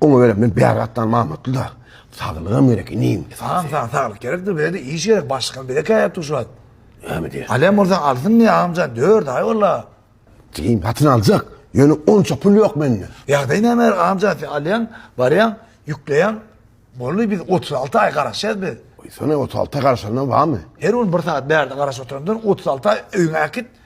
Oňa göre men bäri gatdan mamatly-da. Saglygam gerek, inim. Saňa sag, saglyk gerekdir, bize-de iş gerek, başlykam bize käýýär tuşat. Näme diýýär? Alýan bolsaň alsynmy, agamjan, dört aý ol-a. Jigim, satyn aljak, ýöne onça pul ýok mende. Ýagdaý näme, agamjan, sen alýaň, barýaň, ýükleýäň, boldy, biz otuz alty aý garaşýarys biz. Goýsana, otuz alty aý garaşanyna barmy? Her gün bir sagat bärde garaşyp oturandan, otuz alty aý öýüňe äkit,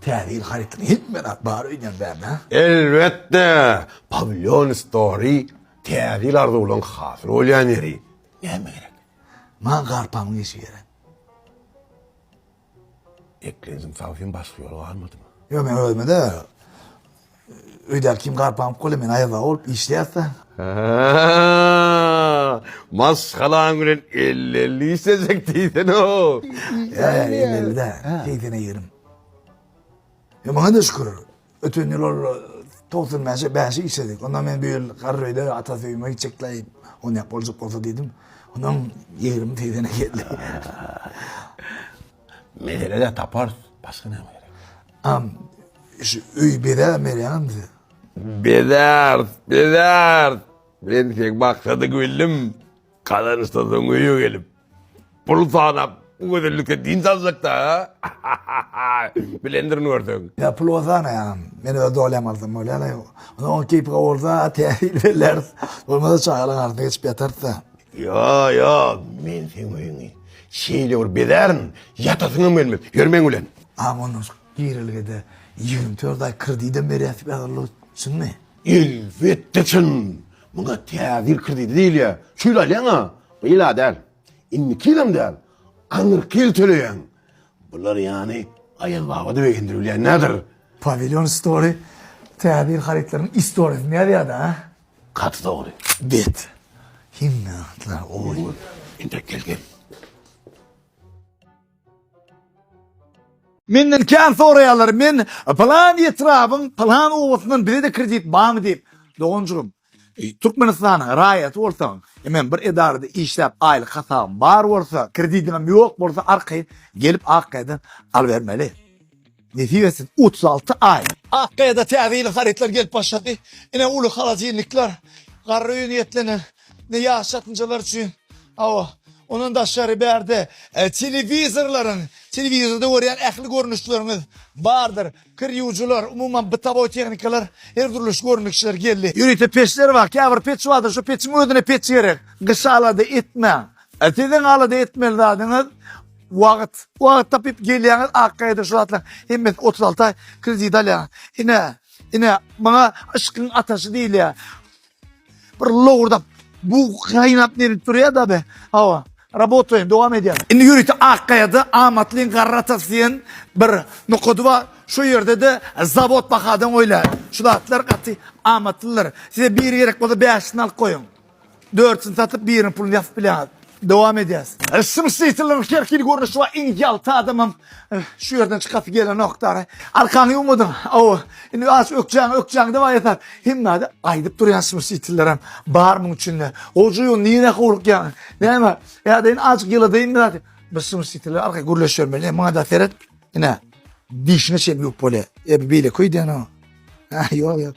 Täze ýyl harytyny hemmäň-ä bar öýünden bärde. Elbetde! Pawilýon Story Täze ýyl arzuwlaryň hasyl bolýan ýeri. Näme gerek? Maňa garpamyň işi gerek. Eklendim, sag sen başga ýol galmadymy? Ýok, men özüme-de. Öýdäki kim garp aňyp gole men aýazda bolup işleýäsda. Maşgalaň bilen elli-elli işlejek diýsene. Ýa elli-ellide. Keýsene ýerim. Ýa maňa da şükür. Öten ýyl ol 95-e 5 işledik. Onda men bu ýyl garry öýde ata söýüme gitjekler. O näp boljak bolsa diýdim. Ondan ýerim teýzene geldi. Meselede taparys. Başga näme gerek? Am, şu öýi bezäp berýäňizmi bize? Bezäris, bezäris. Men seň maksady bildim. Gazanyşsaň öýe gelip, pul sanap, bu gözellikden dynç aljakda. Bilendirin görseň. Ýa pul bolsa sanaýaňam. Men öz dolýam alsam bolýar-la. Onuň keýpi gowy bolsa, täzini belläris. Bolmasa çagalaryň arasynda geçip ýatarys-da. Ýa, ýa, men seň öýüňi şeýle bir bezärin, ýatasyňam gelmez. Ýör meň bilen. A mundan soň girelgede ýigrimi dört aý kredidem berýäs ýazyldy, çynmy? Elbetde çyn. Muňa täzir kredidi diýilýär. Şu ýyl alýaň-a, bu ýyl-a däl. Indiki ýylam däl, aňyrky ýyl töleýäň. Bular ýany Aýaz baba-da begendirilýän däldir. Pawilýon story täzir harytlaryň istoriýasyny ýazýar-da. Gaty dogry. Bet. Hemme atlar oý. Entek gel gel. Menden kän soraýarlar men plan etrabyň plan obasyndan bizede kredit barmy diýip. Doganjygym Türkmenistanyň raýaty bolsaň hemem bir edarada işläp aýlyk hasabyň bar bolsa kredidiňem ýok bolsa arkaýyn gelip akgaýadan alybermeli. Nesip etsin otuz alty aý. Ak gaýada täze ýylyň harytlary gelip başlady. Ine uly holodilnikler, garry öýe niýetlenen, ine ýaş çatynjalar üçin. Hawa, ondan daşgary bärde telewizorlaryň, telewizorda görýän ähli görnüşleriňiz bardyr. Kir ýuwujylar, umuman bytowoý tehnikalar, her dürli görnüşler geldi. Ýörite peçler bar, käbir peç bardyr, şo peçiň özüne peç gerek. Gyşa alada etmäň. Siziň alada etmeli zadyňyz Wagt. Wagt tapyp gelýäňiz Akgaýadan şu zatlaryň hemmesini otuz alty aý kredit alýaňyz. Ine, ine muňa yşkyň ataşy diýilýär. Bir lowurdap bu gaýnap nebit durýar-da be. Hawa. Rabotaýyn, dowam edýän. Indi ýörite Akgaýada amatlyň garry atasy diýen bir nokady bar. Şu ýerde-de zawod bahadan goýlar. Şu zatlar gaty amatlydyr. Size biri gerek bolsa bäşisini alyp goýuň. Dörtüsini satyp biriniň puluny ýasyp bilýäňiz. Dowam edýäs. Şum şliçileriň her hili görnüşi bar iň ýalta adamam şu ýerden çykasy gelenok dara. Arkaňy ýuwmadyň aw indi aç ökjäňi ökjäňi daway ýasar. Hemmede aýdyp durýan şum şliçillerem bar muň üçinde. Goja ýo nirä howlukýaň näme ýa-da indi aç ýyladaýyn bir zat. Biz şum şliçiller arka gürleş ýörmeli maňada seret ine dişine çenli ýuwup bolýar. Ebe beýle köý diýen o. Ýok ýok.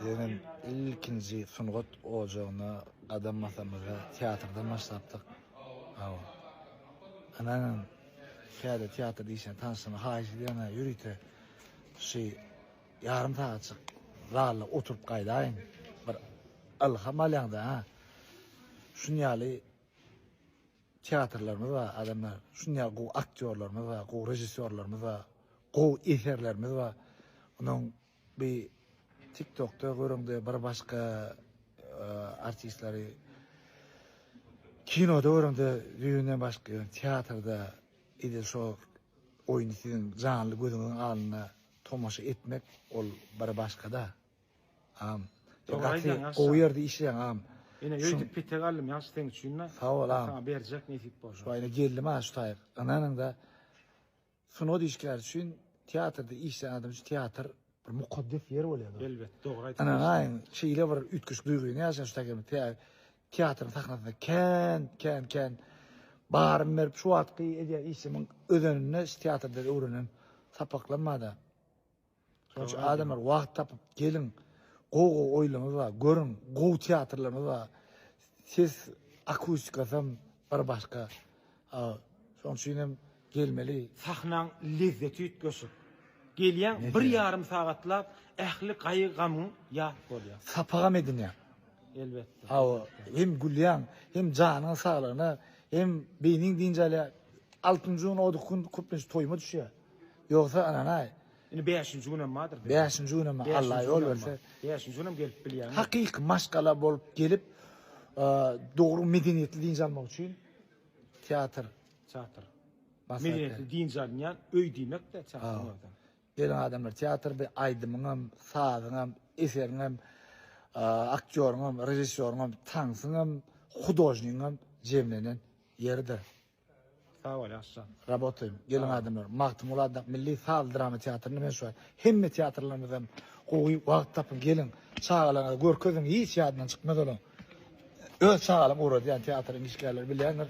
Bizenem ilkinji sungat ojagyna gadam basamyzda teatrdan başlapdyk. Ynanyň, täze teatr işine tanyşlygyma haýyş edýän-ä, ýörite şu ýarym sagatjyk zalda oturyp gaýdaýyň, bir ylham alýaň-da. Şunuň ýaly teatrlarymyz bar, adamlar, şunuň ýaly gowy aktýorlarymyz bar, gowy režissýorlarymyz bar, gowy eserlerimiz bar. Onuň Bi tik tokda görüňde bir başka artistlary kinoda görüňde düýünden başka teatrda edil şo oýny siziň janly gözüňiziň alnynda tomaşa etmek ol bir başkada agam gaty gowy ýerde işleýäň agam Ine ýöýtüp pite galdym ýagşy seň üçin-de. Sag bol agam. Saňa berjek nesip bolsa. Şu aýna geldim ha şu taýyk. Ynanyňda Sungat işgäri üçin, teatrda işleýän adam üçin teatr bir mukaddes ýer bolýar. Elbet, dogry aýtdyňyz. Ana, aýyň, şeýle bir üýtgeşik duýgy ne ýaşaýan şu taýdan teatryň sahnasynda kän, kän, kän barymy berip, şu wagtky edýän işimiň özeninde şu teatrda öwrenen sapaklarym barda. Şonuň üçin adamlar wagt tapyp geliň, gowy gowy oýlaryňyz bar, görüň, gowy teatrlaryňyz bar. Ses akustikasy hem bir başga. Şonuň üçin hem gelmeli. Sahnaň lezzeti üýtgeşik. Gelýäň, bir ýarym sagatlap ähli gaýgy-gamyň ýat bolýar. Sapagam edinýäň. Elbetde. Hawa, hem gülýäň, hem janyň saglygyna, hem beýniň dynç alýar. Altynjy gün, o gün köplenç toýuma düşýär. Ýogsa ynanaý. Indi bäşinji günem bardyr diýip. Bäşinji günem bar. Alla ýol berse. Bäşinji günem gelip bilýäňmi? Hakyky maşgala bolup gelip, dogry medeniýetli dynç almak üçin teatr. Teatr. Medeniýetli dynç alynýan öý diýmek-de teatryň özi. Geliň adamlar, teatr bir aýdymyňam, sazyňam, eseriňem, aktýoryňam, režissýoryňam, tansyňam, hudožnigiňem jemlenen ýeridir. Sag bol ýagşyjan. Rabotaýyn. Geliň adamlar. Magtymguly atyndaky milli saz drama teatryna men şuwagt hemme teatrlarymyzdan gowy wagt tapyň geliň. Çagalaryňyza görkeziň hiç ýadyndan çykmaz olaň. Öz çagalam ugradýan teatryň işgärleri bilýändir.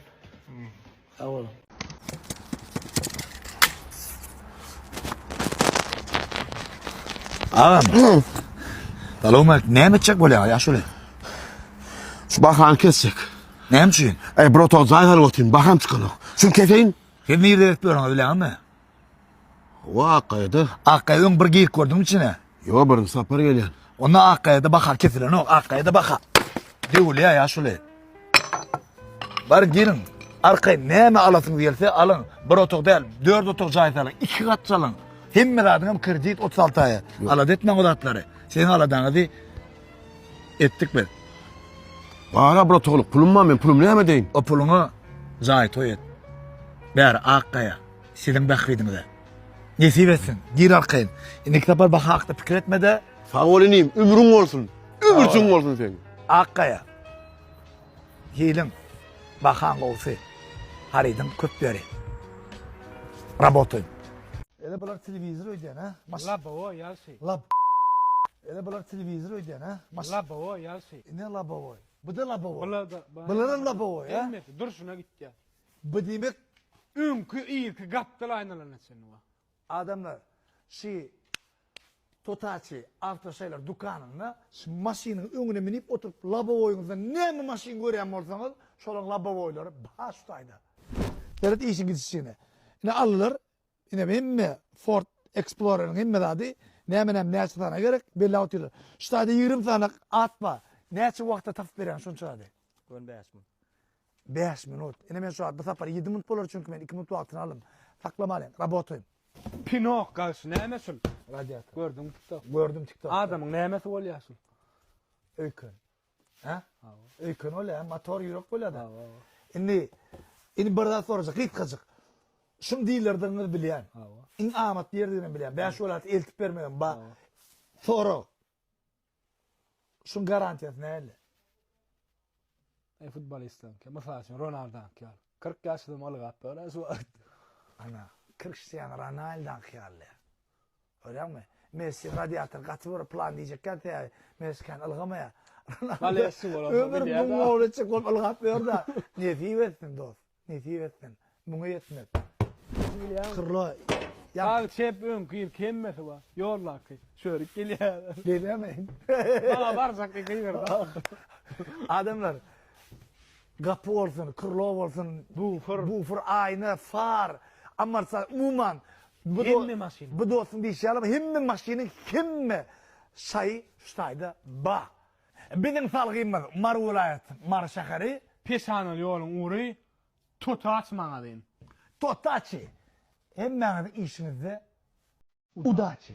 Sag boluň. Agam. Salowmaleýkim. Näme etjek bolýaňyz ýaşuly? Şu bahany kesjek. Näme üçin? Eý, bir otag jaý alyp otyň, baham çykanok. Şuny keseýin. Siz nirede edip ýörüňiz bileňizmi? Hawa, Akgaýada. Akgaýa öň bir girip gördüňmi içine? Ýok, birinji sapar gelýän. Onda Akgaýada baha kesilenok, Akgaýada baha döwülýär ýa şuly. Bar giriň, arkaýyn näme alasyňyz gelse alyň. Bir otag däl, dört otag jaý salyň, iki gat salyň. Hemme zadyňam kredit otuz alty aýa. Alada etmäň o zatlary. Siziň aladaňyzy Etdik biz. Gara bratogly pulum bar men pulum näme edeýin. O puluňa jaý toý et. Bäri Akgaýa siziň bähbidiňize. Nesip etsin. Gir arkaýyn. Indiki sapar baha hakda pikir etmede. Sag bol inim ömrüň bolsun. Ömürjüň bolsun seň. Akgaýa. Hiliň. Bahaň gowsy. Harydyň köp beri. Rabotaýyn. Ele bular telewizor öýdýän hä. Maş. Labowo ýalşy. Lab. Ele bular telewizor öýdýän hä? Maş. Labowoý ýagşy. Ine labowoý. Bu-da labowoý. Bular-da. Bularam labowoý hä? Hemmesi durşuna gitýär. Bu diýmek. Öňki irki gapdal aýnalana çenli bar. Adamlar şi Totaçi awtoşaýlar dükanynda şi maşynyň öňüne münip oturyp labowoýyňyzda näme maşyn görýän bolsaňyz şolaň labowoýlary bar şu taýda. Seret işiň gidişine. Ine aldylar. Inem hemme Ford Exploreriň hemme zady näme näme näçe sany gerek belläp otyrlar. Şu taýda ýigrimi sany at bar. Näçe wagtda tapyp berýäň şunça zady? Gon bäş minut. Bäş minut. Ine men şu zady bu sapar ýedi minut bolar çünki men iki minut wagtyny aldym. Saklamalyň. Rabotaýyn. Pinok gaýşy näme şul? Radiator. Gördüňmi tiktok? Gördüm tiktok. Adamyň nämesi bolýar şul? Öýken. Hä? Hawa. Öýken ol hem motor ýürek bolýar. Hawa. Indi indi bir zat sorajak, gysgajyk. Şum diýlerdigini bilýän. Hawa. Iň amatly ýerdigini bilýän. Bäş welaýat eltip bermegem ba. Sorag. Şum garantiýasy näle? E futbolistler, mysal üçin Ronaldo ýaly. 40 ýaşyny ylgap, ölen şu wagt. Ana, Cristiano Ronaldo ýaly. Görýäňmi? Messi radiator gaty bir plan diýjekkä täýýär. Messi kän ylgamaýar. Ronaldo ömür muň bolunca köp ylgap ýör-dä. Nesip etsin, dost. Nesip etsin. Muňa ýetmek. Kyrla ýap. Sag çep öňki ýyl kemmesi bar. Ýoldaky. Çörük gelýär. Gelemeýin. Maňa barjak ýeke ýerde. Adamlar gapy bolsun, krlo bolsun, bufer, aýna, far, amortizator, umuman Hemme maşyn. Bu dostum diýişi ýaly hemme maşynyň hemme şaýy şu taýda ba. Biziň salgymyz Mary welaýat Mary şäheri. Peşanaly ýoluň ury Totaç magazyn. Totaçi. Hemmäňiziň işiňizde udaçi.